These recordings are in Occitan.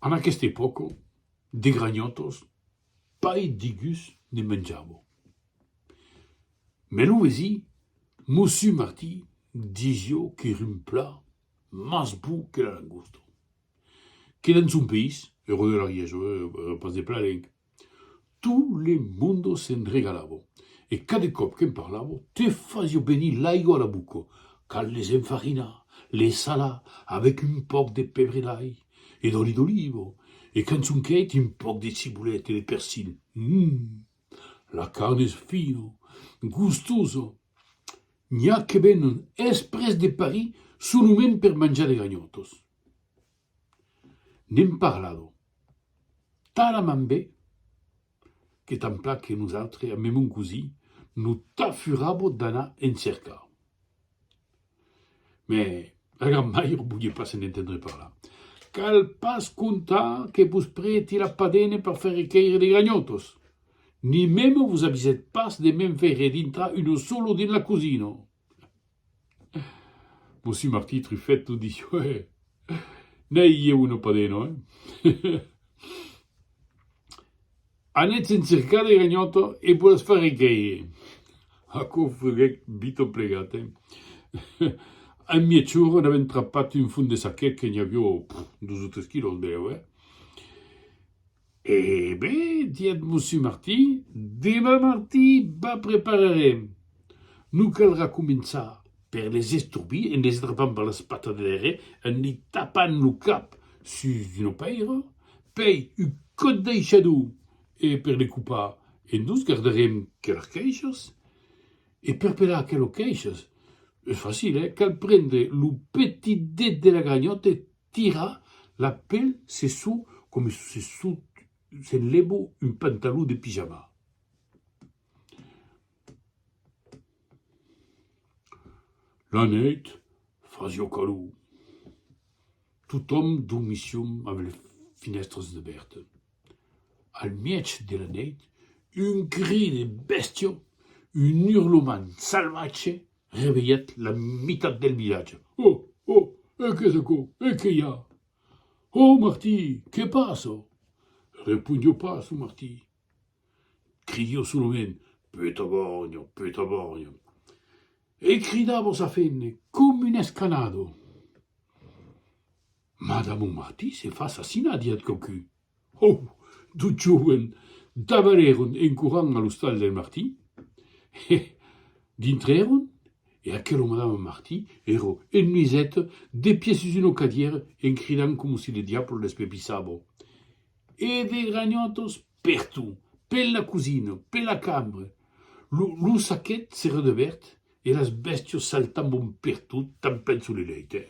En aquesta epòca de granhòtos pas de gus ne menjavo. Mès lo vesí, Mossu Martí, disió qu'ère un plat mas bon que la langosta. Que dens son país, Eró de l'Ariège, pas de Plalenc, Tot le monde se'n regalavo, e cada còp que'n parlavo, te fasio venir l'aigo a la boca. Cal les enfarinar, les salar avèc un pauc de pèbre d'ai e d'òli d'oliva, e quand son quèit, un pauc de cibolèt e de persil. Hum! La carn es fina, gustosa. N'i a que venen espres de Paris solament per manjar de ganhòtas. N'èm parlado talament be que tanpla que nosautres ambe mon cosí no t'afurabo d'anar en cercar. Mès la gran mair volie pas se'n entendre parlar. Cal pas contar que vos prèti la padena per far requèire de granhòtos, ni mèm vos avisèt pas de me'n faire dintrar uno solo dins la cosina. Mossi Martí Trufet lo diu, eh? N'ai ieu una padena, eh? Anètz en cercar de ganhòta e vos las farè créer. Aquò freguèc Vito Plegat, eh? En mièg-ora n'avèm trapat un fum de saquet que n'i avió dos o tres quilòs deu, eh? E ben, didec Mossú Martí, demà martí ba prepararem. Non caldrà començar per les estorbir en les drapant per las patas de darrèr, en li tapant lo cap sus d'una pèira, pèi un còt d'aishador e per le copar en dos gardarem que las caishas. E per pelar aquelas caishas es facil, eh? Cal prendre lo petit det de la granhòta e Tira la pel se su coma se su s'enlebo un pantalon de pijama. La nuèit fasió calor. Totòm dormissiom amb le finèstras debèrte. Al mièg de la nèit, un cri de bèstia, un urlament salvatge Revelhèt la mitat del vilatge. Ò! Ò! E qu'es aquò? E que i a? Ò Martí! Que passa? Reponhó pas lo Martí. Cridhó solament, Petabarnha! Petabarnha! E cridava sa fene com un escanado. Madamo Martí se fa assassinar, diat quauqun. Hou! D'o joven dabarèron en corrant a l'ostal del Martin, e dintrèron, e aquelo madame Martin ero en nuisèt de pies sus una cadièra en cridant coma si le diable l'espepissabo, e de granhòtos pertot, pela cosina, pela cambra, lo lo saquet s'era debèrt e las bèstias saltambon pertot, tanpènt sus le lèit, eh!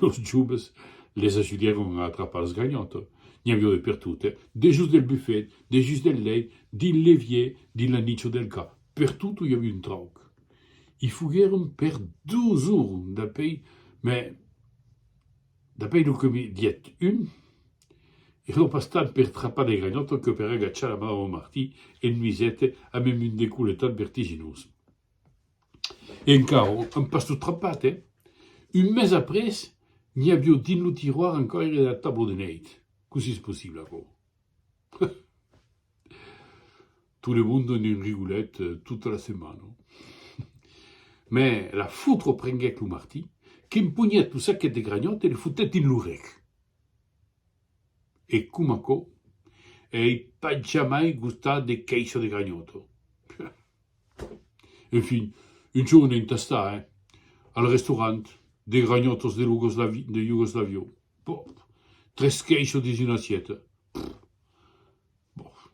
Los joves les ajudèron a atrapar los ganhòtos. N'i aviá de pertot, dejós del bufet, dejós del lèit, dins l'evièr, dins la nicha del ca, pertot i aviá un trauc. I foguèron per dos jorns dapèi, mès dapèi lo que me diguèt un, èra pas tant per trapar de ganhòtos que per agachar la madama Martí en nuisèt a me mundecoletat vertiginós. E encara èm pas tot trapat, eh? Un mes après, n'i avió dins lo tiroir encòi era dera tablo de nèit. Cossí es possible, aquò? Heh! Tout le monde en un rigolet tota la setmana. Mè la fotra prenguèt lo martí, qu'emponhèt lo saquet de granhòt e le fotèt dins lo rec. E coma aquò, ei pas jamai gostat de quèisher de granhòt! Peh! En fin, un jorn en tastà, eh? Al restaurant, de granhòtos de Iugoslavi, de Iugoslavion. Boh! Tres queishos dins una assieta. Pff! Boh!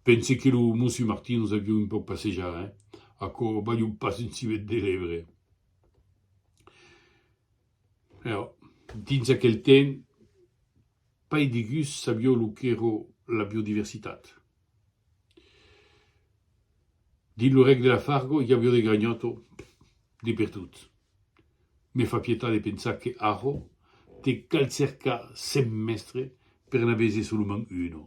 Pense que lo Mossi Martin los avió un pauc passejar, eh? Aquò balhó pas un civet de lèvre. Eo, dins aquel temps, pas de gust sabió lo qu'èra la biodiversitat. Dins lo règne de la Fargo, i avió de ganhòt o de perdut. Me fa pietat de pensar que arrò te cal cercar cent mèstre per n'a veser solament uno.